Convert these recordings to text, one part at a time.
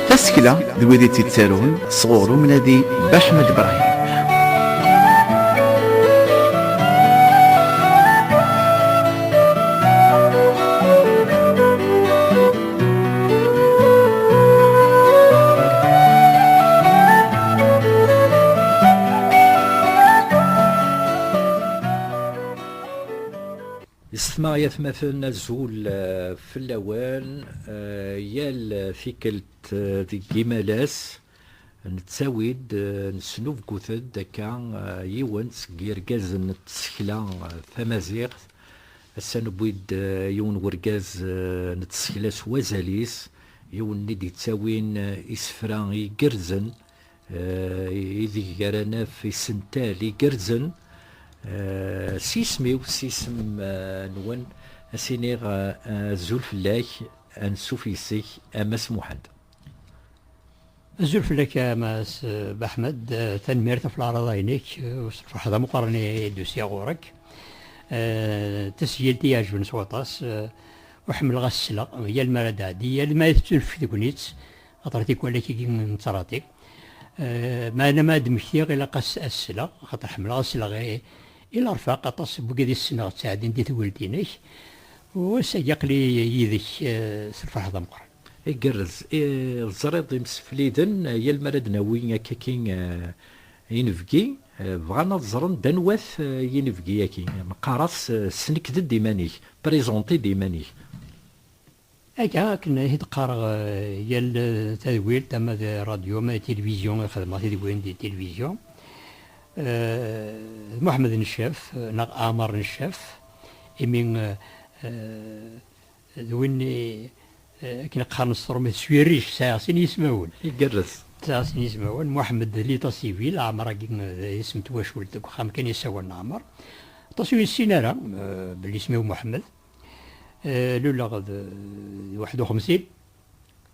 Tasekla d wid i tt-ittarun sɣur umnadi Baḥmed Brahim. Isma yatmaten azul eh, fell-awen eh, yal tikkelt eh, deg yimalas Nettawi-d, nesnubgut-d akka yiwen seg yirgazen n tsekla tamaziɣt. Ass-a newwi-d yiwen n urgaz n tsekla s wazal-is, yiwen-nni d-yettawin isefra igerrzen ideg ara naf isental igerrzen s yisem-iw, s yisem-nwen, a s-iniɣ azul fell-ak, ansuf yes-k a Mass Muḥend. Azul fell-ak a Mass eh, Baḥmed, eh, tanemmirt ɣef leɛraḍa-inek, eh, s lferḥ d ameqqran i d-usiɣ ɣur-k. Tasgilt i iɛejben s waṭas, ur ḥemmleɣ ad s-sleɣ, yal mi ara d-tɛeddi, yal mi ara tettunefk tegnit, xaṭer tikwal akk n ttṛati. Meɛna ma ad d-mmektiɣ ilaq ad s-sleɣ, xaṭer ḥemmleɣ ad sleɣ i lerfaq, aṭas n wigad i ssneɣ ttɛeddin di tegelt-inek, u ass-agi aql-i yid-k s lferḥ d ameqqran. Igerrez. Teẓriḍ imsefliden yal mi ara d-nawi akkaki inebgi, bɣan ad ẓren d anwa-t yinebgi-agi. Neqqar-as snekd-d iman-ik, présenter-d iman-ik. Aga akken i d-qqareɣ yal tadwilt ama di rradyu ama di tilivizyu i xedmeɣ tidwin di tilivizyu, d Muḥemmed Neccaf neɣ Ɛamar Neccaf imi. D win i akken qqaren s tṛumit s wirric, sɛiɣ sin yismawen. Igerrez. Sɛiɣ sin yismawen, Muḥemmed d Lita Sivil, Ɛmer-agi d isem n twacult deg uxxam kan i sawalen Ɛmer. Aṭas ur yessin ara belli isem-iw Muḥemmed. Luleɣ d waḥed u xemsin.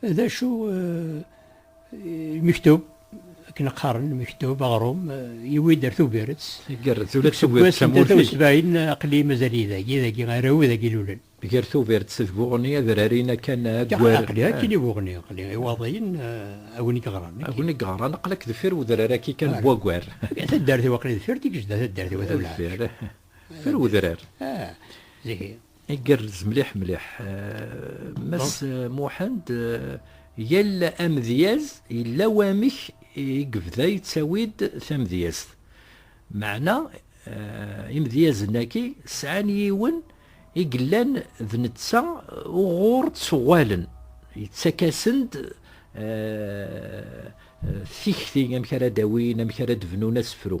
D acu mektub akken qqaren mektub aɣrum yiwi-d ar Tubiret. Igerrez ula d Tubiret d tamurt. Deg sebɛin aqli mazal-iyi dagi, dagi araw dagi lulen. Gar Tubiret d Buɣni ad rarin akan agwar. Aqli akin i Buɣni, aqli i waḍiyen a win i yeɣran. A win i yeɣran aqlak deffir udrar aki kan n wagwar. Taddart-iw aqli deffir Tigejda, taddart-iw a tewleɛ. Deffir udrar. Ah, zigi. Igerrez mliḥ mliḥ. Mass Muḥend, yal amedyaz yella wamek i yebda yettawi-d tamedyazt. Meɛna imedyazen-agi sɛan yiwen i yellan d netta uɣur ttuɣalen, yettak-asen-d tikti amek ara d-awin, amek ara d-bnun asefru.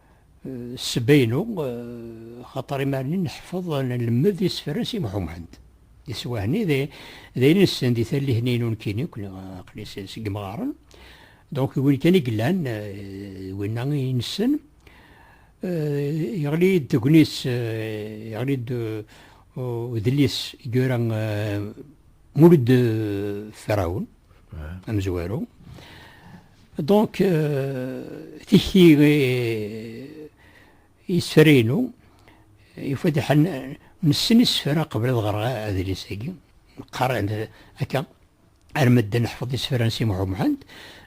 Ssebba-inu, xaṭer imarni nḥeffeḍ, nlemmed isefra si Muḥ Umḥend. Iswahen-i d ayen i nessen di tallit-nni n unekkini akk neɣ aql-i seg yimɣaren. Donc d win kan i yellan, d winna i nessen. Yeɣli-yi-d tegnit, yeɣli-d udlis i yura Mulud Ferɛun, amezwaru. Donc, euh, tikti euh, yesfrinu, il faut dire, nessen isfra qbel ad ɣreɣ adlis-agi, neqqar akka, arma d neḥfeḍ isfra n Si Muḥu Muḥend,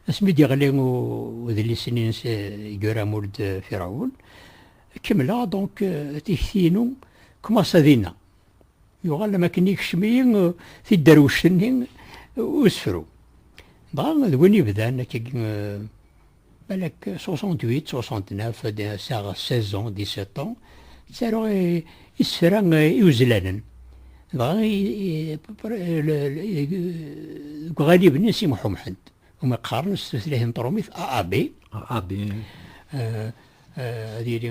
asmi d-yeɣli udlis-nni n Gura Mould Firaoun, kemmleɣ, donc, euh, tikti-inu, commence à dinna. Yuɣal am akken yekcem-iyi tidderwect-nni usefru. Dɣa d win yebdan akka balak 68, 69, ad saɣ 16 ans, 17 ans, ttaruɣ isefra iwezlanen. Dɣa deg uɣalib-nni n Si Muḥ Umḥend, umi qqaren s tutlayt n tṛumit AAB. AAB. Ad yili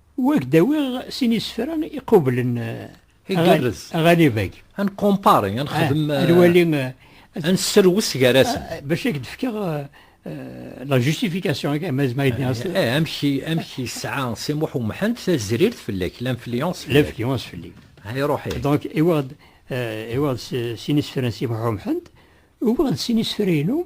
U ad k-d-awiɣ sin isefra iqublen aɣanib-agi. Ad nkumpari, ad nexdem, ad nesserwes gar-asen. Bac ad k-d-fkeɣ la justification agi, ma ad nini. Amek yesɛa Si Muḥ Umḥend tazrirt fell-ak, l'influence fell-ak? L'influence fell-i. Ay ruḥ-ik. Donc, uwiɣ-d sin isefra n Si Muḥ Umḥend, uwiɣ-d sin isefra-inu.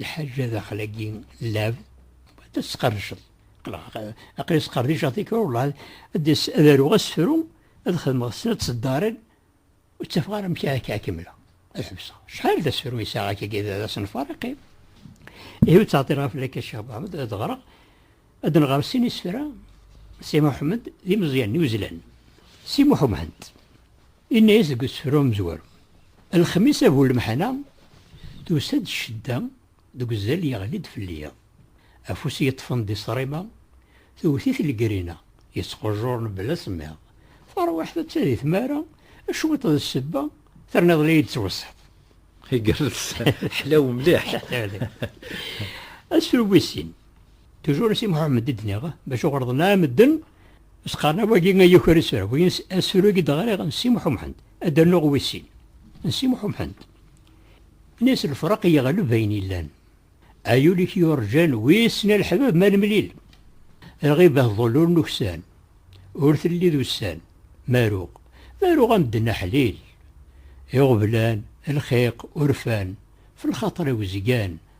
Lḥaǧa daxel-agi lab, ad tesqerdceḍ. Aqli sqerdiceɣ tikra welleh ad aruɣ asefru ad xedmeɣ snat ṣeddaren ur ttafeɣ ara amek akka kemmleɣ ad ḥebseɣ. Acḥal d asefru yesɛa akka d asenfar iqim. Ihi ur ttɛeṭṭileɣ ara fell-ak a Ccix Muḥamed ad ɣreɣ Ad nɣer sin isefra, Si Muḥemmed d imeẓyan n uzlan. Si Muḥemmed, inna-yas deg usefru amezwaru, Lexmis a bu lemḥana, tusa-d ccedda deg uzal yeɣli-d fell-i. Afus yeṭṭfen di ṣrima, tewwet-it legrina, yettqujjur mebla asemmiḍ. Tarwiḥt atta di tmara, cwiṭ d ssebba, terniḍ la iyi-d-tettweṣṣiḍ. Igerrez, ḥlaw mliḥ. Asefru wis sin. Toujours si Mohamed i d-nniɣ, bac ur ɣerḍen ara medden, s-qqaren awagi a yuker asura, win asuru i d-ɣriɣ n Si Muḥumḥend, ad d-rnuɣ wis sin, n Si Muḥumḥend. Nes lefraq yeɣleb ayen yellan. Ay ul-ik yurǧan, wissen a leḥbab ma nemlil. Lɣibah ḍul ur nuksan, ur telli d ussan, maruɣ, maruɣ a medden aḥlil. Iɣeblan, lxiq, urfan, f lxaṭer-iw zgan,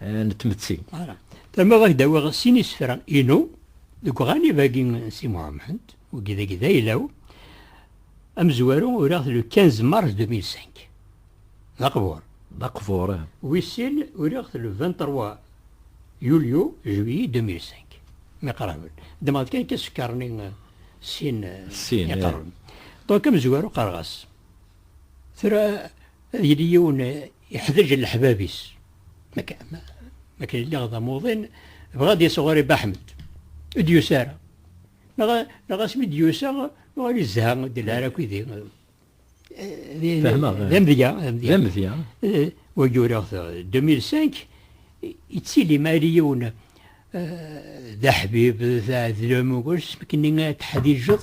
eh, n tmetti. Ara. Tama ad ak-d-awiɣ sin isefra inu deg uɣanib-agi n Si Muhammad, wagi dagi d aylaw, amezwaru uriɣ-t le 15 mars 2005. D aqbur. D aqbur. Eh. Wis sin uriɣ-t le 23 yulyu, juillet 2005. Mi qraben. Ddmeɣ-d kan kan sekkarni sin iqarben. Donc amezwaru qqareɣ-as. Tura ad yili yiwen iḥdeǧ leḥbab-is. Ma kan lliɣ d amuḍin, bɣa ad yas ɣur-i Baḥmed. Ur d-yusa ara. Neɣ asmi d-yusa, yuɣal izha, ur d-yelli ara akk yid-i. D amedya. D amedya. Wagi uriɣ-t 2005, yettili ma yali yiwen d aḥbib d aɛedlem ugur sbekni ad teḥdiǧeḍ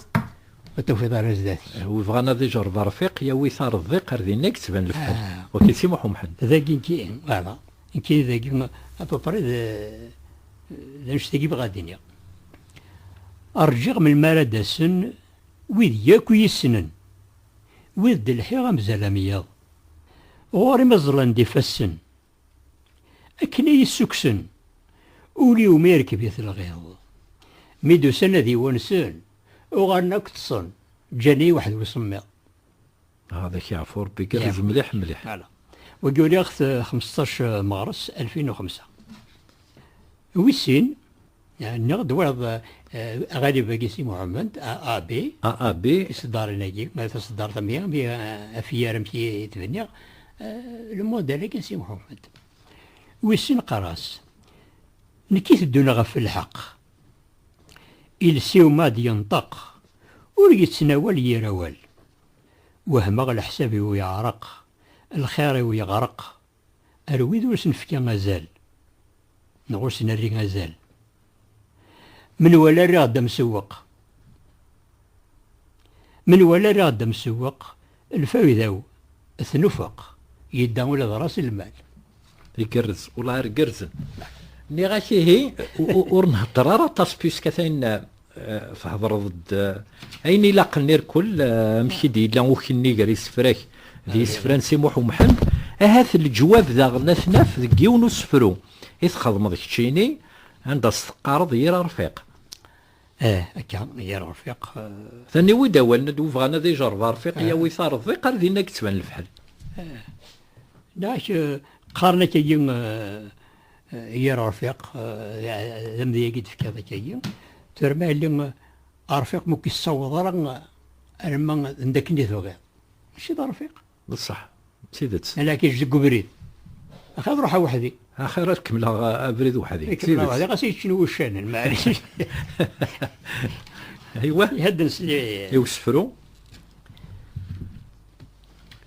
ad tafiḍ ara zdat wi bɣan ad ijerreb rfiq yawi tarḍiq ar dinna i yettban lefḥel ok si Muḥ Umḥend dagi nekki ala nekki dagi apapri d d annect-agi bɣa ad iniɣ rǧiɣ melmi ara d-asen wid yakk i yi-ssnen wid d-lḥiɣ amzal am yiḍ ɣur-i ma ẓẓlen-d ifassen Akken i yi-ssukksen, ul-iw mi irkeb-it lɣiḍ. Mi d-usan ad yi-wansen, uɣalen akk ṭṭsen, ǧǧan-iyi weḥd-i usemmiḍ. Hada kya ɣef Rebbi igerrez mliḥ mliḥ. Wagi uliɣ-t xmesṭac Meɣres alfin u xemsa. Wis sin. Nniɣ-d wayeḍ aɣalib-agi Si Muḥemmed, AAB. AAB. Iseddaren-agi, ma taseddart am i, mi afyar amek i t-bniɣ, lemodal-agi n Si Muḥemmed. Wissen qqar-as. Nekk i teddun ɣef lḥeqq. Iles-iw ma d-yenṭeq, ur yettnawal yir awal. Wehmeɣ leḥsab-iw yeɛreq, lxir-iw yeɣreq, Ar wid ur s-nefka azal neɣ ur s-nerri azal, menwala rriɣ-d amsewweq. Menwala rriɣ-d amsewweq, lfayda-w tnufeq, yedda ula d ras lmal. Igerrez, welleh rgerzen. Nniɣ-ak ihi ur nhedder ara aṭas puisque atan Thedreḍ-d ayen ilaqen irkul, amek i d-yella ukenni gar isefra-k d yisefra n Si Muḥ Umḥend, ahat leǧwab daɣen ad t-naf deg yiwen usefru i txedmeḍ keččini, anda s-teqqareḍ Yir Arfiq. Ih, akka, Yir Arfiq. Taniwi-d awalen d webɣan ad ijerreb Arfiq yawi tareḍ, di qar dinna i yettban lefḥel. Ih, neɣ qqaren akka-yi. yir rfiq d amedya-agi d-tefkiḍ akka-yi terma yelli rfiq mu k-issaweḍ ara arma d akken i tebɣiḍ mačči d rfiq d ṣṣeḥ d tidet ala k-iǧ deg ubrid axir ruḥ weḥdi axir ad kemmleɣ abrid weḥdi d tidet weḥdi ɣas yeččen wuccanen maɛlic aywa ihedden s li i usefru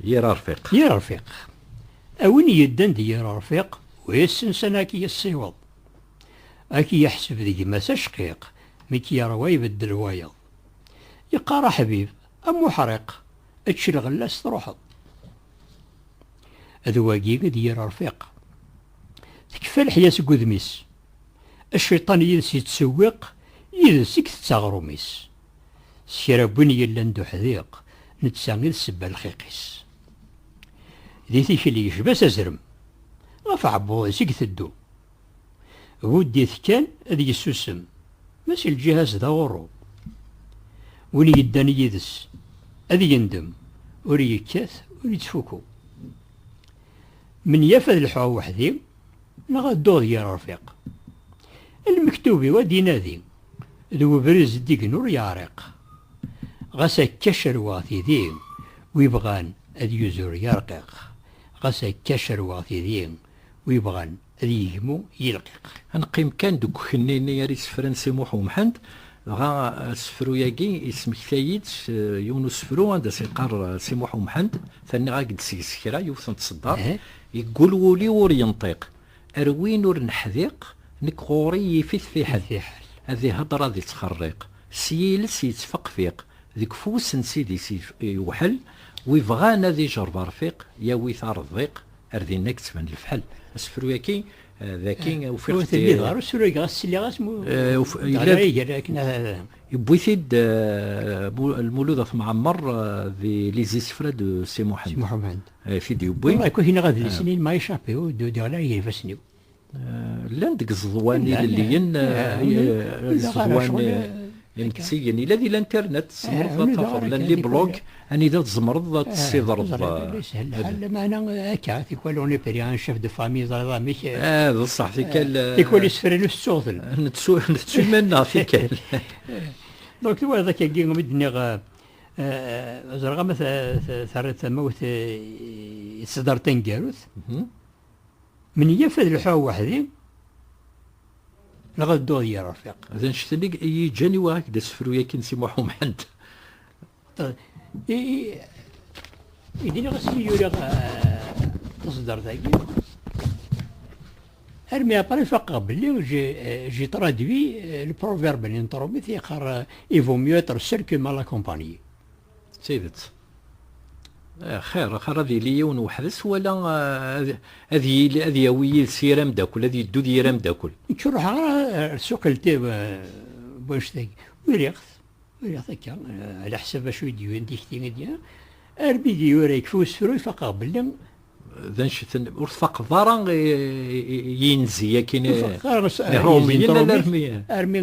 Yir arfiq. Yir arfiq. A win yeddan d yir arfiq, wissen sana ad k-yessiweḍ. Ad k-yeḥseb d gma-s acqiq, mi k-yeṛwa ibeddel wayeḍ. Yeqqar aḥbib, am uḥriq, ečč lɣella-s truḥeḍ. D wagi i d yir arfiq. Tekfa leḥya seg udem-is. Aciṭan yid-s yettṣewwiq, yid-s i itett aɣrum-is. s kra n win yellan d uḥdiq, netta i d sebba n lxiq-is. Di tikli yecba s azrem, ɣef aɛebbuḍ-is i iteddu. Budd-it kan ad yessusem, ma si lǧiha-s d aɣurru. Win yeddan yid-s ad yendem, ur yekkat ur yettfuku. Menyaf ad lḥuɣ weḥdi. Neɣ ad dduɣ d yir rfiq. Lmektub-iw ad d-inadi. D webrid zeddigen ur yeɛriq. Ɣas akka cerweɣ tidi. Wi bɣan ad yuzur yarqiq. Ɣas akka cerweɣ tidi. Wi bɣan ad yegmu yilqiq. Ad neqqim kan deg ukenni-nni ara yessefren Si Muḥ Umḥend, dɣa asefru-agi yesmektay-id s yiwen usefru anda s-yeqqar Si Muḥ Umḥend, terniɣ-ak-d seg-s kra, yiwet n tseddaṛt, Yeggul wul-iw ur yenṭiq. Ar win ur neḥdiq, nek ɣur-i yif-it fiḥel. Ad ihedder ad ittxerriq, s yiles yettfeqfiq, deg ufus n ssid-is yewḥel, wi ibɣan ad ijerb arfiq, yawi-t ar ddiq, ar dinna i yettban lefḥel. Asefru-yaki d aki ufiɣ-t. Ur telliḍ ara usurag ɣas sliɣ-as mu d-ɣriɣ iger akken ad aɣ-d. Yewwi-t-id Lmulud At Mɛemmer di Les Isefra de Si Muḥend. ay t-id-yewwi. Ay kuki neɣ adlis-nni il m'a échappé ur d-udiɣ la eg ifassen-iw. Llan deg iẓeḍwan ilelliyen, iẓeḍwan imtzigen, ila di l'internet, tzemreḍ ad tafeḍ, llan les blogs anida tzemreḍ ad tessidreḍ. Yeshel lḥal, lameɛna akka, tikwal on est pris un chef de famille, ẓriḍ amek. Ah, d ṣṣeḥ, tikkal. Tikwal isefra ur tettuɣ-ten. Nettu iman-nneɣ tikkal. Donc twalaḍ akka-agi mi d-nniɣ ẓreɣ ama terriḍ tamawt i tseddar taneggarut menyaf ad lḥuɣ weḥdi neɣ ad dduɣ d yir rfiq d anect-nni i yi-ǧǧan i wa ak d asefru yakin si Muḥ Umḥend i diniɣ asmi yuriɣ taseddart-agi Armi après faqeɣ belli j'ai traduit le proverbe n Inṭrumit yeqqar il vaut mieux être seul que mal accompagné. D tidet. Xir, xir ad yili yiwen weḥd-s wala ad yili ad yawi yid-s yir ameddakel, ad yeddu d yir ameddakel. Nekk ur ruḥeɣ ara ar suq lti wanect-agi. Uriɣ-t, uriɣ-t akka, ala ḥsab acu i d-yuwin tikti i d-yuwin. Armi d-yura yekfa usefru, faqeɣ belli d anecten ur tfaqeḍ ara yinzi akin iṛumiyen ala armi armi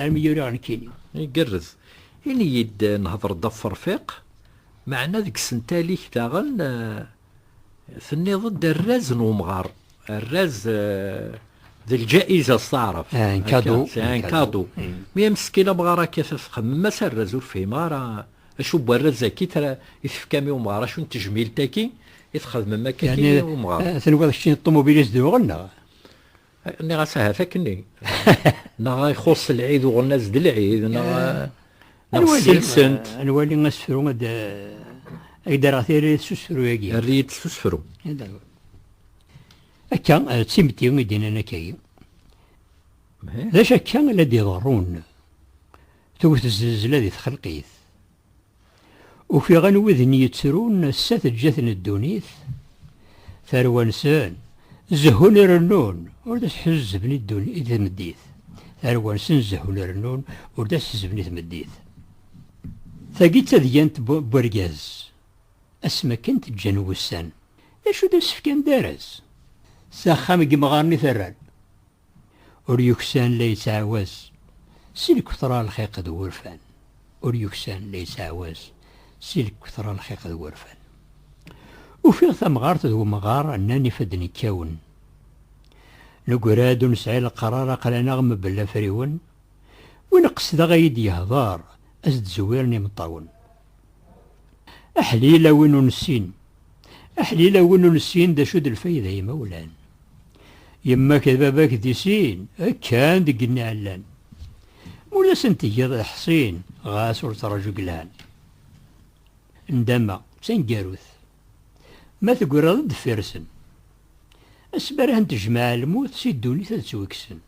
armi yura nekini igerrez ini-yi-d nhedṛ-d ɣef ṛfiq meɛna deg sentalik daɣen tenniḍ-d arraz n umɣar arraz d lǧaiza s taɛrabt un kadu un kadu mi ameskin amɣar akka txemmem-as arraz ur fhimeɣ ara Acu n warraz-agi i tefkam i umɣar? Acu n tejmilt-agi i txedmem akka i umɣar? Tenwiḍ keččini d ṭumubil i s-d-yuɣen neɣ? Nniɣ-as ahat akkenni. Neɣ ixuṣṣ lɛid uɣen-as d lɛid neɣ neɣ selsent. Ad nwali asefru ad ak-d-rreɣ tiririt s usefru-agi. Err-iyi-d s usefru. Akka, d timetti i d-yennan akka-agi. D acu akka la d-iḍerrun? Tewwet zznezla di txelqit. Ufiɣen widen yettrun ass-a teǧǧa-ten ddunit, tarwa-nsen zehhun irennun ur d as-ḥezzben i tmeddit. Tarwa-nsen zehhun irennun ur d as-ḥezzben i tmeddit. Tagi d tadyant n wergaz, asmi akken teǧǧan wussan. D acu d asefk andaras? S axxam n yemɣaren i terran. Ur yuksan la yettɛawaz si lketṛa lxiq d wurfan Ur yuksan la yettɛawaz si lketṛa lxiq d wurfan Ufiɣ tamɣart d wemɣar nnan ifadden kkawen Negra-d ur nesɛi leqrar aql-aneɣ mebla afriwen Win qesdeɣ a yi-d-yehdeṛ a s-d-zewwiren imeṭṭawen Aḥlil a win ur nessin. Aḥlil a win ur nessin d acu d lfayda imawlan. Yemma-k d baba-k di sin, kkan deg igenni ɛellan. Ma ur asen-tgiḍ leḥṣin, ɣas ur ttraǧu deg lhan. Ndama d taneggarut, ma tegreḍ-d deffir-sen. Asbareh n tejmaɛ lmut si ddunit ad ttwekksen.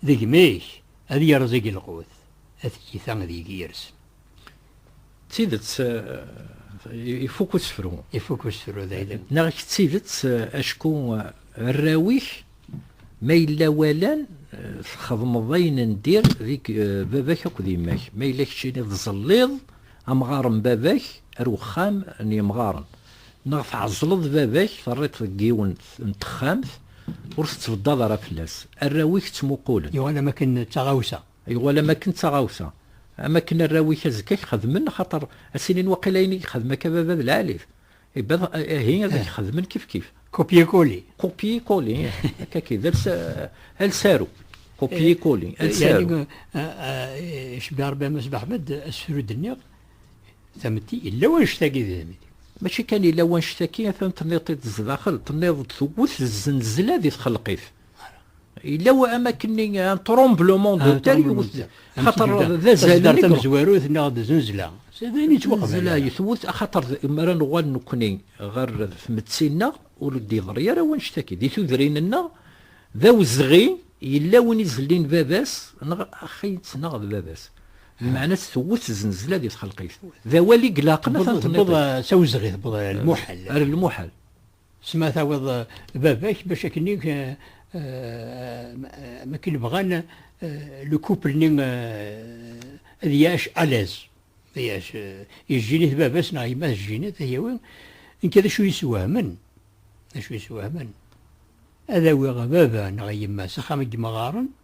Deg imi-k ad yerẓ igelqut, a tiyita ad yeg yirsen. D tidet ifuk usefru. Ifuk usefru d ayla. Neɣ d tidet acku arraw-ik ma yella walan txedmeḍ ayen n dir deg baba-k akked yemma-k. Ma yella keččini tẓelliḍ amɣar n baba-k ar wexxam n yemɣaren. Neɣ tɛeẓleḍ baba-k terriḍ-t deg yiwen n texxamt ur tettbeddaḍ ara fell-as. Arraw-ik ttmuqulen. Yuɣal am akken d taɣawsa. Yuɣal am akken d taɣawsa, am akken arraw-ik azekka a k-xedmen, axaṭer a s-inin waqila ayen i yexdem akka baba d lɛali-t, ibad ihi ad ak-xedmen kifkif. Copier-coller. Copier-coller, ih, akka ki, d els, els aru. Copier-coller, els aru. Yani, icebbiha Rebbi a Mass Beḥmed, asefru i d-nniɣ, tametti, yella wanect-agi di tametti. Mačči kan yella wanect-agi, atan tenniḍ-t-id zdaxel, tenniḍ-d tewwet zznezla di txelqit. yella wa amakenni un tremblement de terre yewwet xaṭer d azal nek tamezwarut neɣ d zenzla sadayen yettwaqbel zenzla yetwet xaṭer mara nuɣal nekkni ɣer tmetti-nneɣ ur d-yeḍri ara wanect akid di tudrin-nneɣ d awezɣi yella win izellin baba-s neɣ axi-tt neɣ d baba-s meɛna-tt tewwet zenzla di txelqit d awal i ilaqen ad ten-tewweḍ s awezɣi tewweḍ ar lmuḥal ar lmuḥal S ma tawiḍ baba-k bac akken-i makken bɣan le couple-nni ad yaɛc à l'aise, ad yaɛc yejjinit baba-s neɣ yemma tejjinit ad yawi, nekk d acu yeswehmen, d acu yeswehmen ad awiɣ baba neɣ yemma s axxam n yemɣaren,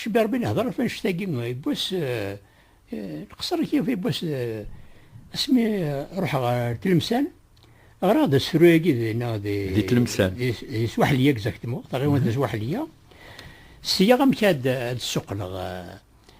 Cberbi nehder ɣef annect-agi n wass nqeṣṣer kif n wass asmi ruḥeɣ ɣer Tlemsan ɣraɣ-d asefru-agi dinna di Tlemsan di Swaḥliya exactement taɣiwant n Swaḥliya sliɣ amek ad d-ssuqqleɣ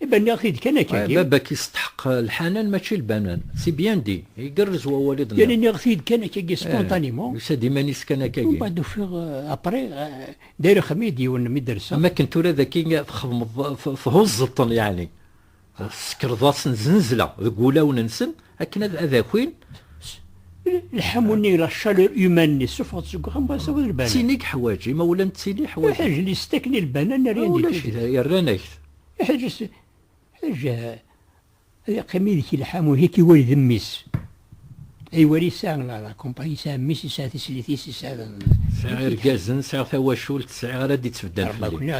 Iban nniɣ-t-id kan akk-agi. Baba-k yesteḥq lḥanan mačči lbanan, c'est bien dit, igerrez wawal i d-tenniḍ. Yal nniɣ-t-id kan akk-agi spontanément. Yusa-d iman-is kan akk-agi. Mbaɛd ufiɣ après d'ailleurs axxam-iyi-d yiwen mi d-rseɣ. Am akken tura dagi txedmeḍ thuẓẓeḍ-ten yeɛni, tessekreḍ-asen znezla deg wulawen-nsen akken ad akin. Lḥamu-nni, la chaleur humaine-nni ssufɣeḍ-t seg uxxam mbaɛd tawiḍ lbanan. D tin i yeḥwaǧ, imawlan d tin i yeḥwaǧen. Iḥwaǧen, yestakni lbanan, rien du tout. Ulac, rran-ak-t. Iḥeǧǧ-as, Ḥeǧǧ, ad iqqim yid-k lḥamu, ad k-iwali d mmi-s. Ad iwali yesɛa lakumpañ, yesɛa mmi-s, yesɛa tislit-is, yesɛa. Sɛiɣ irgazen, sɛiɣ tawacult, sɛiɣ ara d-ittbeddan fell-i.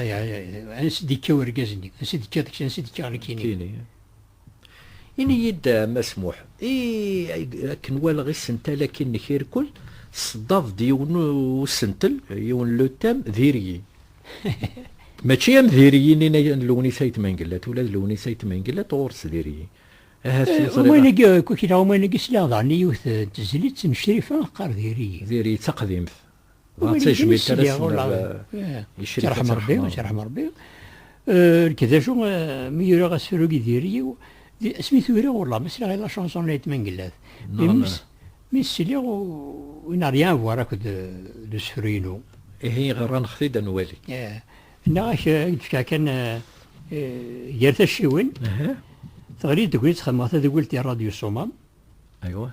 Ansi d-ikka urgaz-nni? Ansi d-ikka deg-s? Ansi d-ikka ɣer nekkini? Ini-yi-d a Mass Muḥ, ih, akken walaɣ isental-agi nek irkul, tseddad-d yiwen n usentel, yiwen n lutam, d iryi. Mačči am d iryi-nni n Lewnis Ayt Mengellat, ula d Lewnis Ayt Mengellat ɣur-s d iryi. Ahat ur teẓriḍ ara. Umuɣ-agi akk, kra umuɣ-agi sliɣ daɣen i yiwet n tezlit n Crifa teqqar d iryi. D iryi, d taqdimt. Dɣa d tajmilt ara s-nerr icrika. Tirḥem Rebbi, tirḥem Rebbi. Nekk d acu, mi uriɣ asefru-agi d yiri-iw, asmi t-uriɣ wellah ma sliɣ i la chanson la yettmangellat. Mi s-sliɣ il n'a rien à voir akked d usefru-inu. Ihi ɣranɣ-t-id ad nwali. Nniɣ-ak ad k-d-fkeɣ kan gar tacciwin, teɣli-d tegnit xedmeɣ tadeggilt i Rradyu Ṣṣumam. Aywa.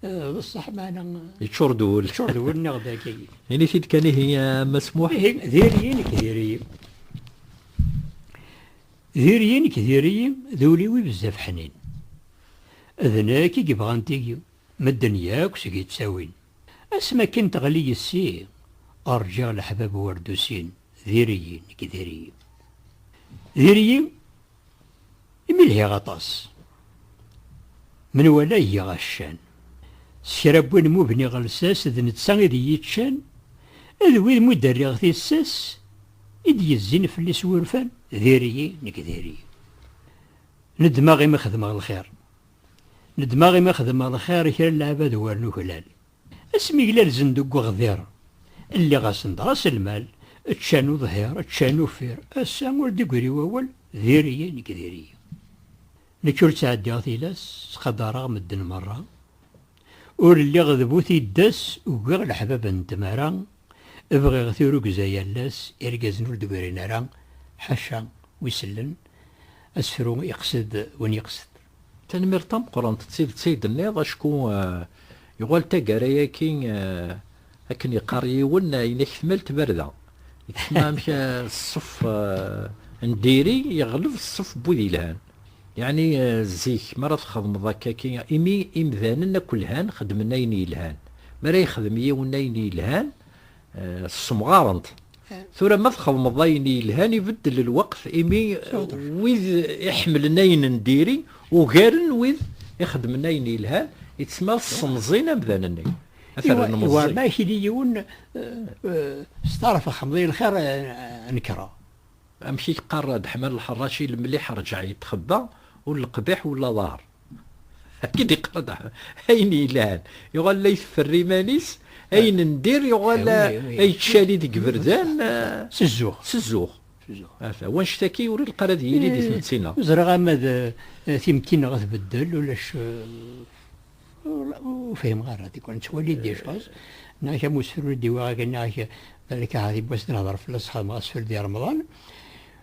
Eh, d ṣṣeḥ maɛna. Yeččur d wul. Yeččur d wul neɣ dagi. Ini-t-id kan ihi masmuḥ. Ihi diri-yi nekk diri-yi. Diri-yi nekk diri-yi d ul-iw bezzaf ḥnin. D nekk i yebɣan tigi medden yakk seg yettawin. Asmi akken teɣli yessi rǧiɣ leḥbab werdusin diri-yi nekk diri-yi. Diri-yi Imi lhiɣ aṭas. Menwala igiɣ accan. S kra n win mubniɣ lsas d netta i d iyi-ččan, d wid mud-rriɣ tissas i d-yezzin fell-i s wurfan, diri-yi, nekk diri-yi. Nedmeɣ imi xedmeɣ lxir. Nedmeɣ imi xedmeɣ lxir i kra n leɛbad war nuklal. Asmi glalzen deg uɣdir, lliɣ-asen-d raselmal, ččan uḍhir, ččan uffir, ass-a ur d-igri wawal, diri-yi nekk diri-yi. Nekk ur ttɛeddiɣ tilas, ttqadareɣ medden merra. Ur lliɣ d bu tiddas, ugiɣ leḥbab n tmara, bɣiɣ tirugza yal ass, irgazen ur d-grin ara, ḥaca wi sellen, asefru iqsed win iqsed. Tanemmirt tameqqrant d tidet ay d-tenniḍ, acku yuɣal taggara-agi akken yeqqar yiwen, ayen ak tmal tbarda gma amek ṣṣef n diri yeɣleb ṣṣef n wid yelhan, yeɛni zik mi ara txedmeḍ akka-agi imi imdanen akk lhan xeddmen ayen yelhan, mi ara yexdem yiwen ayen yelhan Eh, ssemɣarent tura ma txedmeḍ ayen yelhan ibeddel lweqt imi wid iḥemmlen ayen n diri ugaren wid ixedmen ayen yelhan yettmal ssemẓin amdan-nni wa ma akili yiwen eh, eh, s taraf xemḍi lxir nekreɣ amek i yeqqar Deḥman Lḥerraci lemliḥ rǧeɛ yettxebba ur leqbiḥ ur laḍar Akken iqeḍ ayen yelhan yuɣal la iteffer iman-is ayen n dir yuɣal ay tcali deg iberdan s zzuɣ s zzuɣ ata wanect aki ur ilqar ad yili di tmetti-nneɣ ẓriɣ ama d timetti-nneɣ ad tbeddel ulac ur fhimeɣ ara tikwal nettwali d icaẓ neɣ am usefru i d-iwaɣ akken neɣ balak ahat yiwwas ad nehder fell-as xedmeɣ asefru di remḍan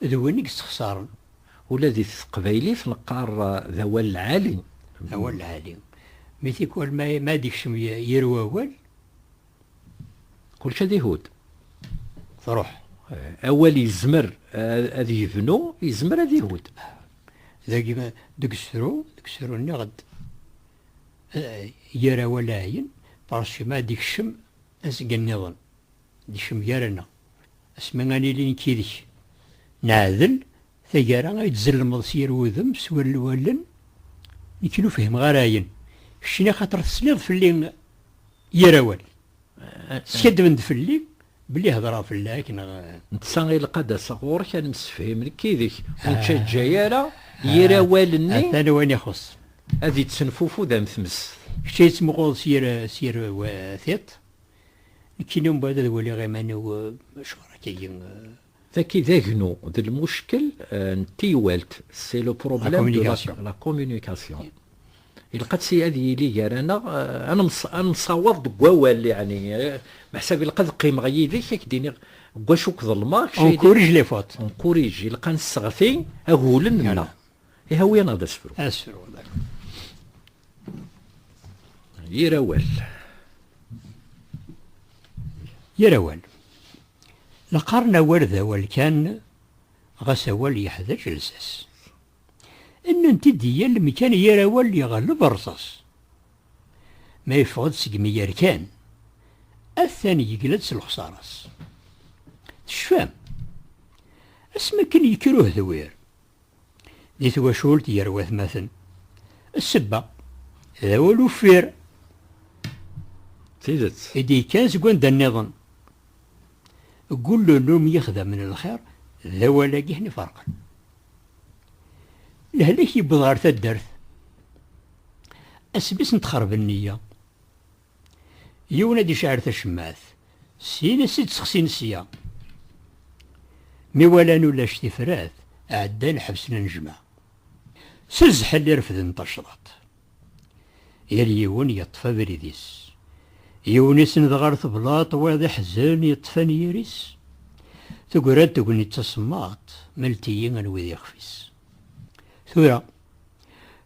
d win i yessexsaren. Ula di teqbaylit neqqar d awal lɛali. D awal lɛali. Mi tikwal ma ad ikcem yir wawal. Kulci ad ihud. Truḥ. Awal yezmer ad yebnu, yezmer ad ihud. Dagi deg usefru, deg usefru nniɣ-d yir awal ɛyin, parce que ma ad ikcem azgen nniḍen. D kemm gar-aneɣ. Asmi ad nili nekk yid-k. Neɛdel, tagara ay d-tzellmeḍ s yir wudem, s yir wallen, nekk ur fhimeɣ ara ayen. Keččni axaṭer tesliḍ fell-i yir awal. Skaddben-d fell-i belli hedreɣ fell-ak, neɣ? Netta ilaq ad d-aseɣ ɣur-k ad nemsefhim nekk yid-k. Ur nettaǧǧa ara yir awal-nni. Atan wayen ixuṣṣ. Ad yettenfufud am tmest. Kečč ad iyi-tettmuquleḍ s yir tiṭ. Nekkini umbaɛd ad waliɣ iman-iw acuɣer akka-agi. Taki d agnu d lmuckel n teywalt, c'est le problème de la communication. Ilaq ad yili gar-aneɣ, ad nemsawaḍ deg wawal yeɛni. Meḥsab ilaq ad qqimeɣ yid-k ad k-d-iniɣ deg wacu k-ḍelmeɣ. On corrige les fautes. On corrige, ilaq ad nesseɣti agulen-nneɣ. Ihawi neɣ d asefru? Asefru, d'accord. Yir awal. Yir awal. La qqaren awal d awal kan, ɣas awal yeḥdac lsas. Nnant-id di yal mkan yir awal yeɣleb rrṣas. Ma yeffeɣ-d seg mi yerkan, atan yegla-d s lexṣara-s. Tecfam? Asmi akken yekker uhdewwir, di twacult gar watmaten. Ssebba, d awal uffir. Tidet. I d-yekkan seg wanda nniḍen. Gullen umi ixdamen lxir, d awal-agi ḥni ferqen. Lehlak yewweḍ ɣer taddart. Asbis n txerb nniya. Yiwen ad icaɛer tacemmaɛt, syin ad s-id-sexsin sya. Mi walan ulac tifrat, ɛeddan ḥebsen anejmaɛ. S zzḥel i refden tacḍaṭ. Yal yiwen yeṭṭef abrid-is. Yiwen isenned ɣer teblaṭ, wayeḍ iḥzen, yeṭṭef anyir-is. Tegra-d tegnit tasemmaḍt, melt-iyi anwa i d ixef-is. Tura,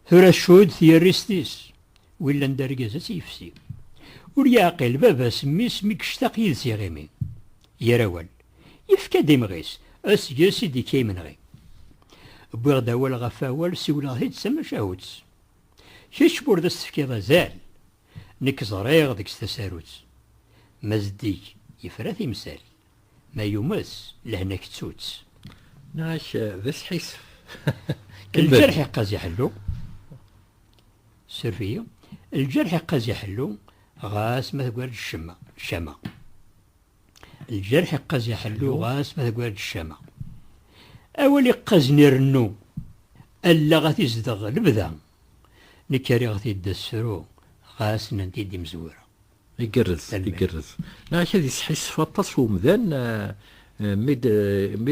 tura tcudd tyerrist-is. Wi yellan d argaz ad tt-yefsi. Ur yeɛqil baba-s mmi-s mi yectaq yid-s iɣimi. Ger awal. Yefka-d imɣi-s, aseggas i d-yekka yimenɣi. Wwiɣ-d awal ɣef awal siwleɣ-t-id d tamacahut. Kečč ma ur d as-tefkiḍ azal. Nekk ẓriɣ deg-s tasarut. Ma zeddig, yefra timsal. Ma yumes, lehna kettu-tt. Nniɣ-ak d asḥissef. Lǧerḥ iqqaz iḥellu. Suref-iyi. Lǧerḥ iqqaz iḥellu, ɣas ma teggara-d ccama. Ccama. Lǧerḥ iqqaz iḥellu, ɣas ma teggara-d ccama. Awal iqqazen irennu, allaɣ ad t-izdeɣ lebda. Nekk rriɣ-t-id d asefru, ɣas nnan-t-id imezwura. Igerrez, igerrez. Neɣ ad yesḥissef aṭas umdan mi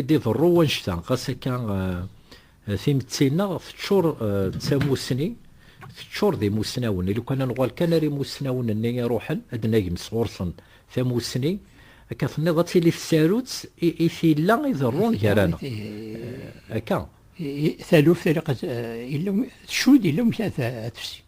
d-iḍerru wannect-a. Ɣas akka timetti-nneɣ teččur d tamussni, teččur d imussnawen. I lukan ad nuɣal kan ar imussnawen-nni iruḥen, ad d-nagem sɣur-sen tamussni, akka tenniḍ ad tili tsarut i tilla iḍerrun gar-aneɣ. Akka. Taluft ilaq tcudd, yella wamek ad tefsi.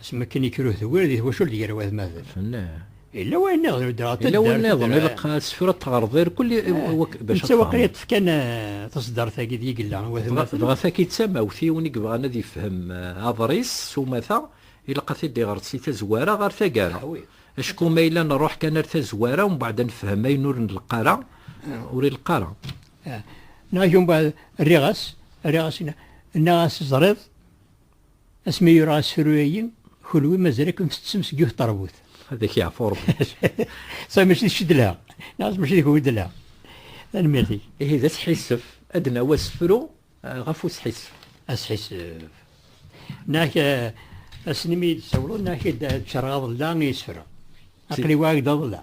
Asmi akken ikker uhdewwir di twacult gar wad ma d. Fellah. Yella wayen niḍen ur d-reɣ taddart. Yella wayen niḍen ilaq asefru ad teɣreḍ irkul eh, bac ad Netta waqil i d-fkan eh, taṣeddart-agi d yigella. Dɣa taki d tamawt i yiwen i yebɣan ad yefhem eh, aḍris s umata ilaq ad t-id-iɣret si tazwara ɣer tagara. Acku ma yella nruḥ kan ar tazwara umbeɛd ad nefhem ayen ur nleqq ara, ur ileqq ara. Neɣ umbeɛd rriɣ-as, rriɣ-as, nnaɣ-as teẓriḍ, Asmi yura asefru-agi, kunwi mazal ad kem-tettessem seg yiwet terbut. Ad ak-yeɛfu Rebbi. Sa mačči d kečč i d-la, neɣ mačči d kunwi i d-la. Tanemmirt-ik. Ihi d asḥissef, ad d-nawi asefru ɣef usḥissef. Asḥissef. Neɣ ass-nni mi iyi-d-tsawleḍ, neɣ ad k-id-ččareɣ aḍellaɛ n yisefra. Aql-i wa i ak-d-aḍellaɛ.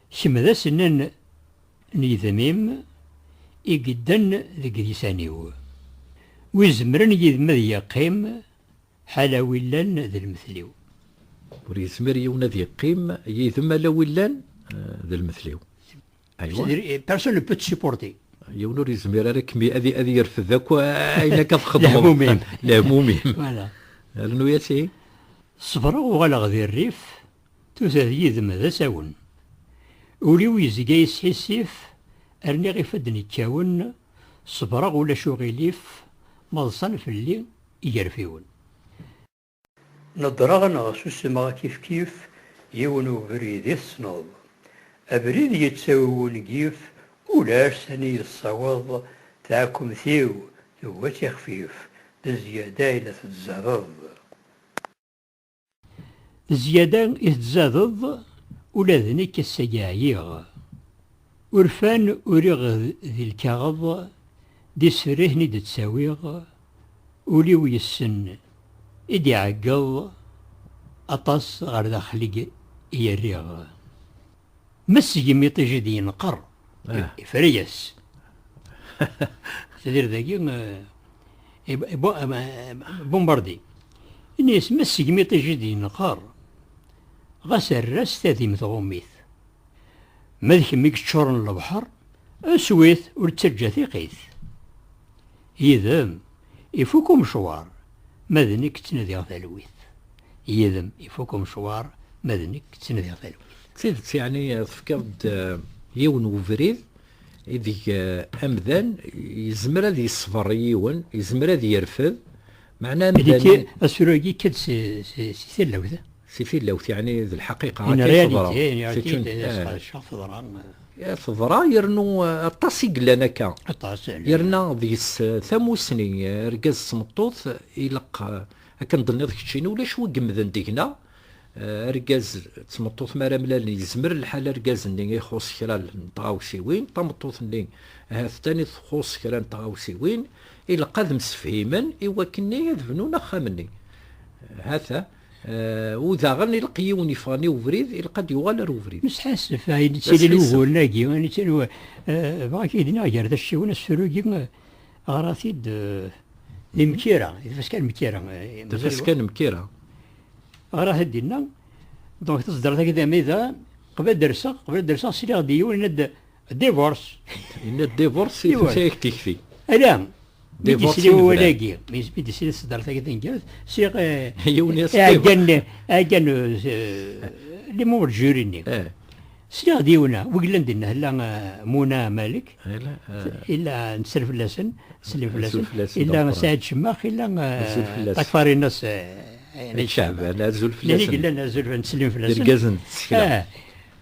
Kemm d asnen n yidem-im i yedden deg lisan-iw. Wi izemren yid-m ad yeqqim, ḥala wi llan d lmetl-iw. Ur yezmir yiwen ad yeqqim yid-m ala wi llan d lmetl-iw. Aywa. Personne ne peut te supporter. Yiwen ur yezmir ara kmi ad ad yerfed akk ayen akka txedmeḍ. Lehmum-im. Lehmum-im. Voilà. Rnu-yas ihi. Ṣebreɣ uɣaleɣ di rrif. Tusa-d yid-m d asawen. Ul-iw yezga yesḥissif, rniɣ ifadden ikkawen, ṣebreɣ ulac uɣilif ma ḍsan fell-i igerfiwen. Neddreɣ neɣ susemeɣ kifkif, yiwen ubrid i tessneḍ. Abrid yettawi wungif, ulac sani yessaweḍ, taɛkumt-iw tugi ad tixfif, d zzyada i la tetzerreḍ. Zzyada i tzadeḍ ula d nekk ass-agi ɛyiɣ. Urfan uriɣ di lkaɣeḍ, d iserrihen i d-ttawiɣ, ul-iw yessen i d-iɛeggeḍ, aṭas ɣer daxel i rriɣ. Messegem iṭij i d-yenqer, ah. ifra-yas. Tadiri dagi, eh, eh, eh, bombardi. Ini-yas, messegem iṭij i d-yenqer, ɣas err-as tadim tɣummit. Ma d kemm i yeččuren lebḥer, aswit ur ttaǧǧa tiqit. Yid-m, Ifuk umecwar, ma d nekk ttnadiɣ talwit. Yid-m ifuk umecwar, ma d nekk ttnadiɣ talwit. D tidet yeɛni tefkiḍ-d yiwen n webrid ideg amdan yezmer ad yesber i yiwen, yezmer ad yerfed, meɛna amdan. Asefru-agi yekka-d si tallawt. Si tilawt yeɛni d lḥaqiqa akka i teḍra. Teḍra. Teḍra yernu aṭas i yellan akka. Aṭas. Yerna deg-s tamussni argaz d tmeṭṭut ilaq akken d-tenniḍ keččini ulac wi yemmden deg-na. Argaz d tmeṭṭut mi ara mlalen yezmer lḥal argaz-nni ixuṣ kra n tɣawsiwin, tameṭṭut-nni ahat d tanit txuṣ kra n tɣawsiwin, ilaq ad msefhimen i wakken-nni ad bnun axxam-nni. Hata. Eh, u daɣen ilq yiwen yeffɣen i ubrid ilq ad yuɣal ar ubrid. Nesḥassef ayen yettilin wuguren-agi, ayen yettilin eh, bɣa k-id-nniɣ gar tacciwin asefru-agi eh, ɣrat-id d imkira, d tfaska n mkira. D tfaska n mkira. Ɣrat-id dinna, donc taẓedrat-agi d amida, qbel ad derseɣ, qbel ad derseɣ sliɣ-d yiwen ad Divorce. Yenna divorce i tusa yak tikti. Ala, mi d-isli wawal-agi, mi d-isli ṣeddart-agi taneggarut, siɣ ɛeggan limu d juri-nni. Sliɣ d yiwna, wi yellan dinna, hella Muna Malik, illa nesser fell-asen, neslim fell-asen, illa Saɛid Cemmax, illa Takfarinas Caɛban, azul fell-asen. Illa azul fell-asen. Irgazen n tsekla.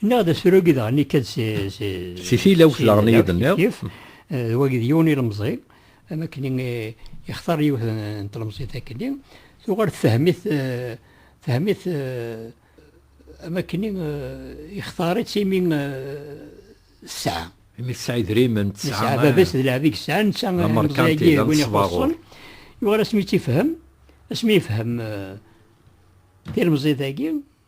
Neɣ d asrug i daɣen ikad si... Si tilawt daɣen i d-tenniḍ. D wagi d yiwen ilemẓi, am akken ixtar yiwet n tlemẓit akkenni, tuɣal tfehhem-it, tfehhem-it am akken ixtar-itt imi tesɛa. Imi tesɛa idrimen, tesɛa... Tesɛa baba-s d lɛeb i yesɛa, netta ilemẓi-agi d win ixuṣṣen, yuɣal asmi i tt-ifehhem, asmi ifehhem tilemẓit-agi,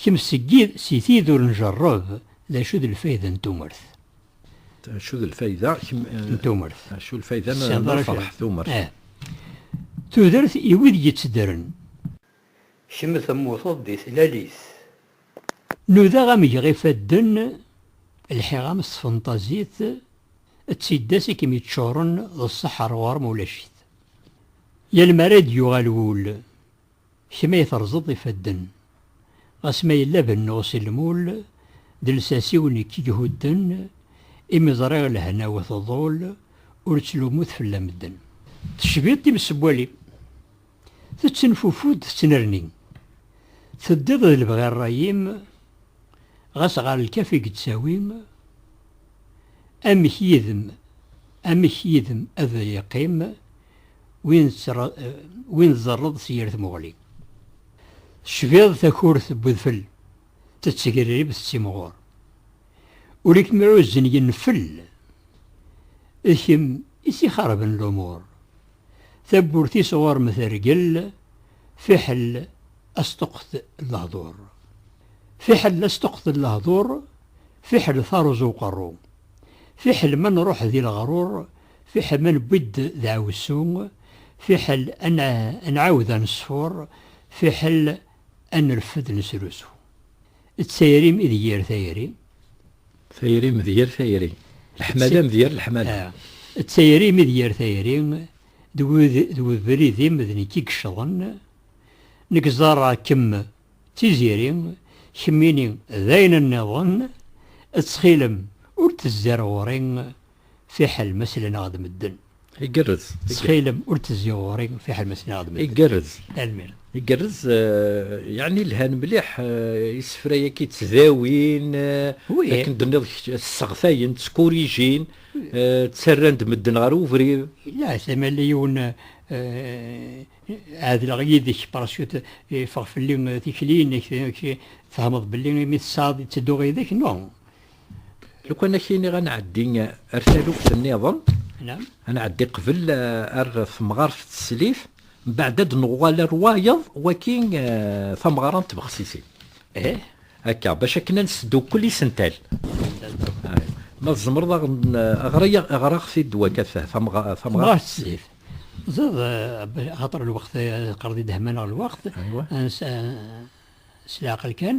Kemm si tid ur njerreb, d acu d lfayda n tumert? D acu d lfayda n tumert? D acu lfayda n lferḥ tumert? Tudert i wid yettedren. Kemm temmuteḍ di tlalit. Nudaɣ ad m-geɣ ifadden, lḥiɣ-am s tfenṭazit, d tiddas i kem-yeččuren d ṣṣeḥḥa ar ɣur-m ulac-it. Yal mi ara d-yuɣal wul, Kemm ay terẓeḍ ifadden. Ɣas ma yella bennuɣ si lmul, d lsas-iw nekk i ihudden, imi ẓriɣ lehna-w tḍul, ur ttlumut fell-a medden. Tecbiḍ timsewwalin, tettenfufud tettnerni, teddiḍ d lebɣi rray-im, ɣas ɣer lkaf i yettawim, amek yid-m, amek yid-m ad yeqqim, win tẓerreḍ si yir tmuɣli. Tecbiḍ takurt n udfel, tettgrib tettimɣur. Ur ikem-ɛuzzen yenfel, d kemm i s-ixerben lumur. Tawwurt-is ɣur-m tergel, fiḥel asṭuqet n lehdur. Fiḥel asṭuqet n lehdur, fiḥel taruẓ uqerru. Fiḥel ma nruḥ di leɣrur, Fiḥel ma newwi-d deɛwessu, fiḥel ad nɛawed ad neṣfur, fiḥel ad nerfed nesrusu. D tayri ideg yir tayri. Tayri d yir tayri. Leḥmala d yir leḥmala. D tayri ideg yir tayri. D webrid-im d nekk i yeccḍen. Nekk ẓẓareɣ-kem d tiziri, kemmini d ayen nniḍen. Ttxil-m ur d-tezzer ɣur-i. fiḥel ma sleneɣ-d medden. Igerrez. Ttxilem ur d-tezzi ɣur-i fiḥel ma sleneɣ-d medden. Igerrez. Tanemmirt. Igerrez, yeɛni lhan mliḥ isefra-agi ttdawin, akken d-tenniḍ kečč, sseɣtayen, ttkurijin, ttarran-d medden ɣer ubrid. Yella ɛettam ala yiwen ɛedleɣ yid-k parasut yeffeɣ fell-i tikli-inek tfehmeḍ belli imi tesɛiḍ ittedduɣ yid-k no Lukan ak iniɣ ad nɛeddi ar taluft nniḍen, ad nɛeddi qbel eh, ar temɣart teslit, mbaɛd ad nuɣal ar wayeḍ waki eh, tameɣra n tbexsisin. Eh? Akka, bac akken ad nesdukkel isental. Ma tzemreḍ aɣraɣ-t-id waka tamɣart teslit. Ẓeḍ, xaṭer lweqt, qerdi dehman ɣer lweqt, s leɛqel kan.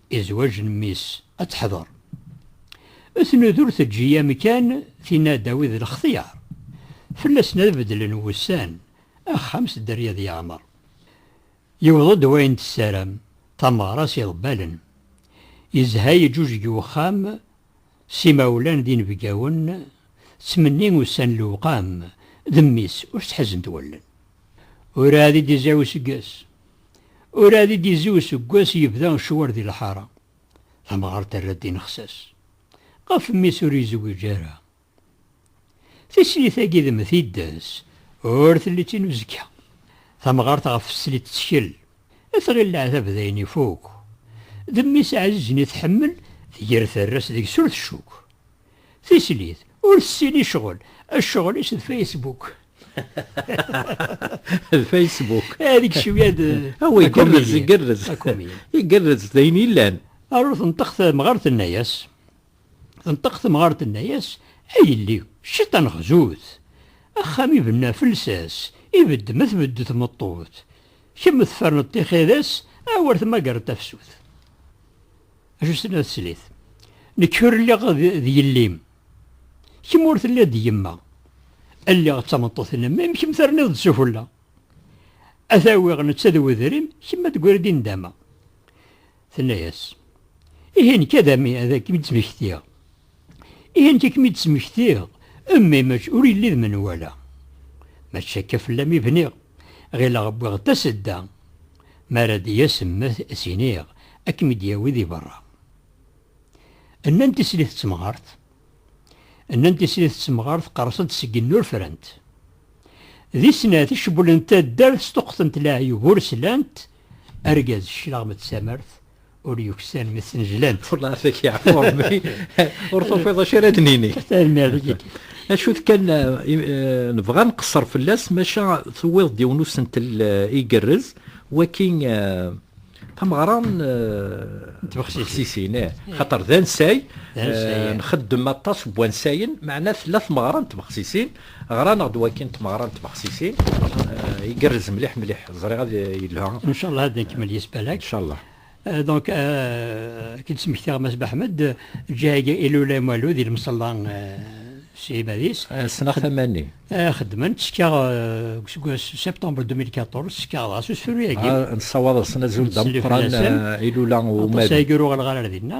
I zwaǧ n mmi-s ad teḥḍer. Tnud ur teǧǧi amkan, tinna-d a wid lextyar. Fell-asen ad beddlen wussan, axxam s dderya ad yeɛmer. Yewweḍ-d wayen tessaram, tameɣra s iḍebbalen. Yezha yeǧǧuǧeg wexxam, s imawlan d inebgawen, ttmenni ussan lewqam, d mmi-s ur s-ḥezzent wallen. Ur ɛad i d-izay useggas. Ur ad id-izzi useggas yebda ccwar di lḥara, tamɣart terra-d inexsas ɣef mmi-s ur yezwiǧ ara. Tislit-agi d mm tiddas, ur telli d tin uzekka. Tamɣart ɣef teslit tettkel, tɣil leɛtab d ayen ifuk. D mmi-s ɛzizen i tḥemmel, tger terra-s deg-s ur tcuk. Tislit, ur tessin i ccɣel. Ccɣel-is d Facebook. d Facebook. Ad ikcem yad... Awi, gerrez, gerrez. Igerrez, d ayen illan. Aru tenṭeq temɣart tenna-yas. Tenṭeq temɣart tenna-yas, a yelli, cciṭan xzut. Axxam ibenna felsas, ibedd ma tbedd tmeṭṭut. Kemm tferneḍ tixidas, awer tmagreḍ tafsut. Ajusen a teslit. Nekk ur lliɣ d yelli-m. Kemm ur telliḍ d yemma. Lliɣ d tameṭṭut-nnem, mi kemm terniḍ-d s ufella. A t-awiɣ netta d wedrim, kemm ad d-tegriḍ i nndama. Tenna-as, Ihi nekk ad kem-id-smektiɣ. Ihi nekk ad kem-id-smektiɣ, mmi mačč ur yelli d menwala. Mačči akka fell-am i bniɣ, ɣileɣ wwiɣ-d tasedda. Mi ara d-yas mmi ad s-iniɣ ad kem-id-yawi di berra. Nnan tislit d temɣart. Nnan tislit d temɣart qerrsent seg nnur frant. Di snat i cewwlent taddart sṭuqqtent leɛyub ur slant, argaz cclaɣem d tamart ur yuksan mi snejlan. Welleh tek yeɛfu Rebbi ur tufiḍ acu ara d-nini. Tanemmirt. Acu kan nebɣa nqeṣṣer fell-as maca tuwiḍ-d yiwen usentel igerrez waki tameɣra n tbexsisin xaṭer d ansay nxeddem aṭas n wansayen meɛna tella tmeɣra n tbexsisin Ɣran-aɣ-d wagi n tmeɣra n tbexsisin. Igerrez mliḥ mliḥ. Ẓriɣ ad yelha. Ncallah ad nkemmel yes balak. Ncallah. Donc ad k-d-smektiɣ Mass Baḥmed, Djag ilula imalu di lemṣella s iɛibad-is. Ssneɣ tama-nni. Xeddmen, ttekkaɣ deg useggas septembre 2014, ttekkaɣ dɣa s usefru-agi. Nessawaḍ-asen azul d ameqqran ilula u umalu. Aṭas ay yegruɣ lɣar ar dinna.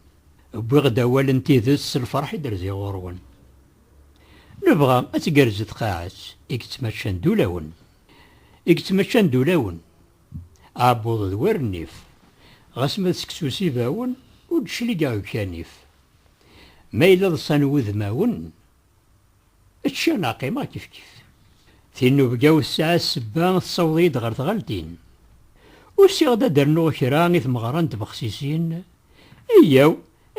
Wwiɣ-d awal n tidet s lferḥ i d-rziɣ ɣur-wen. Nebɣa ad tgerrez tqaɛet i yettmaččan d ulawen. I yettmaččan d ulawen, aɛebbuḍ d wer nnif, ɣas ma d seksu s ibawen, ur d-cligeɣ deg-k anif. Ma yella ḍsan wudmawen, Ččiɣ neɣ qqimeɣ kifkif. Tinubga-w tesɛa ssebba tessaweḍ-iyi-d ɣer tɣaltin. Usiɣ-d ad d-rnuɣ kra i tmeɣra n tbexsisin, Eyyaw,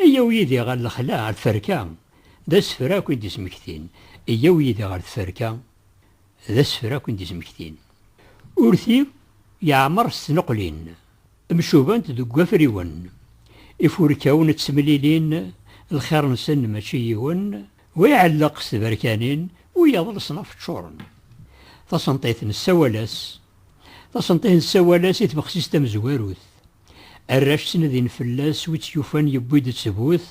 eyyaw yid-i ɣer lexla, ɣer tferka, d asefra akk i d-ismektin, Eyyaw yid-i ɣer tferka, d asefra akk i d-ismektin. Urti yeɛmer s tneqlin. Mcubant deg wafriwen. Ifurkawen ttemlilin, lxir-nsen mačči yiwen, wa iɛelleq s tberkanin, wiyaḍ leṣnaf ččuren. Tasenṭiṭ nessawal-as Tasenṭiṭ nessawal-as i tbexsist tamezwarut. Arrac ttnadin fell-as, wi tt-yufan yewwi-d ttbut,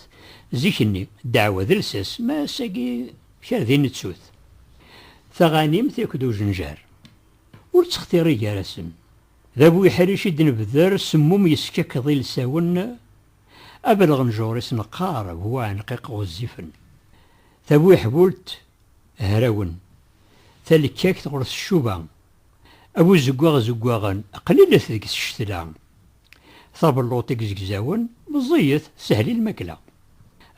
zik-nni, ddeɛwa d lsas, ma ass-agi kra din nettu-t. Taɣanimt akked ujenjar ur ttextiri gar-asen. D abuḥric i d-nebder semmum yeskekkeḍ ilsawen, abelɣenjur-is neqqar bu uɛenqiq ɣezzifen, tabuḥbult hrawen, talekkakt ɣur teccuba, abuzeggaɣ zeggaɣen, qlilet deg tcettla, tabelluṭ igzegzawen meẓẓiyet, teshel i lmakla.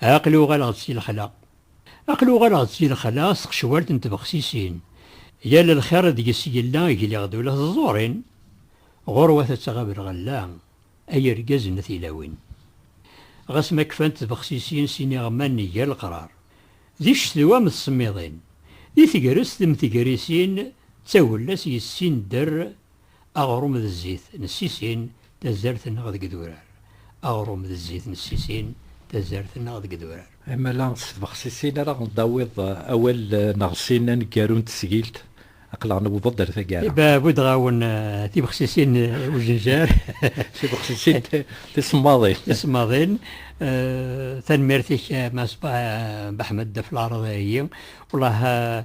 Aql-i uɣaleɣ-d si lexla, Aql uɣaleɣ-d si lexla s tqecwalt n tbexsisin, yal lxir i deg-s yella gliɣ d ula teẓẓurin, ɣurwat ad tɣab lɣella, ay irgazen a tilawin. Ɣas ma kfant tbexsisin s iniɣman n yal qrar, di ccetwa am tsemmiḍin, di tegrest m tegrisin d tagella-s yessin dder, Aɣrum d zzit n ssisin, tazart-nneɣ deg idurar. Aɣrum d zzit n ssisin, tazart-nneɣ deg idurar. Amala s tbexsisin ara ɣ-d-tawiḍ awal neɣ sin aneggaru n tesgilt, aql-aɣ newweḍ-d ar taggara. Bbudeɣ-awen tibexsisin n ujenjar. Tibexsisin tisemmaḍin. Tisemmaḍin. Tanemmirt-ik a Mass Baḥmed ɣef laɛreḍ-agi. Welleh.